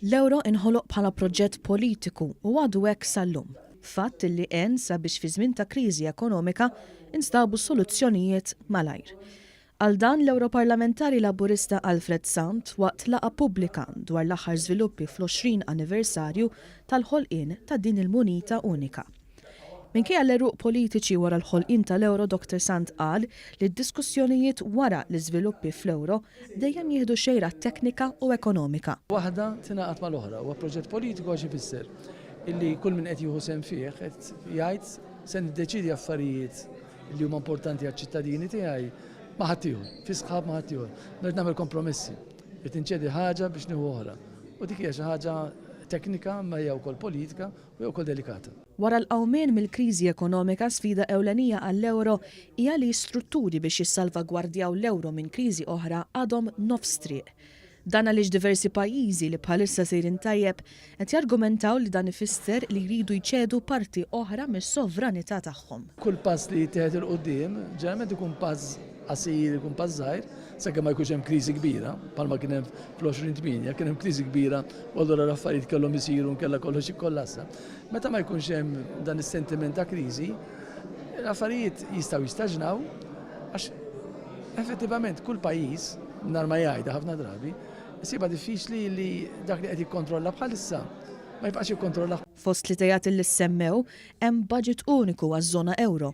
L-euro inħoloq bħala proġett politiku u għadu hekk sal-lum, fatt li għen sabiex fi żmien ta' kriżi ekonomika instabu soluzzjonijiet malajr. Għal dan l-Ewroparlamentari Laburista Alfred Sant waqt laqgħa pubblika dwar l-aħħar żviluppi fl-20 anniversarju tal-ħolqien ta' din il-munita unika. Minkejja l-għeruq politiċi wara l-ħolqien tal-euro Dr Sant qal li d-diskussjonijiet wara l-iżviluppi fl-euro dejjem jieħdu xejra teknika u ekonomika. Waħda tingħaqad mal-oħra. Huwa proġett politiku għax ifisser illi kull min qed jieħu sehem fih qed jgħid se niddeċiedi affarijiet li huma importanti għaċ-ċittadini tiegħi ma' ħaddieħor, fi sħab ma' ħaddieħor. Rrid nagħmel kompromessi. Rrid inċedi ħaġa biex nieħu oħra. U dik hija xi ħaġa teknika imma hija wkoll politika. Hija wkoll delikata. Wara l-qawmien mill-kriżi ekonomika, sfida ewlenija għall-euro hija li strutturi biex jissalvagwardjaw l-euro minn kriżi oħra għadhom nofs triq. Dan għaliex diversi pajjiżi li bħalissa sejrin tajjeb qed jargumentaw li dan ifisser li jridu jċedu parti oħra mis-sovranità tagħhom. Kull pass li jittieħed 'il quddiem ġeneralment ikun pass Qasir ikun pass żgħir sakemm ma jkunx hemm kriżi kbira, bħalma kien hemm fl-2008, kien hemm kriżi kbira u allura l-affarijiet kellhom isiru nkella kollox jikkollassa. Meta ma jkunx hemm dan is-sentiment ta' kriżi, l-affarijiet jistgħu jistaġnaw għax effettivament kull pajjiż nar ma jgħidha ħafna drabi, siba diffiċli li dak li qed jikkontrolla bħalissa ma jibqax jikkontrollah. Fost l-ideat li ssemmew hemm budget uniku għaż-żona ewro.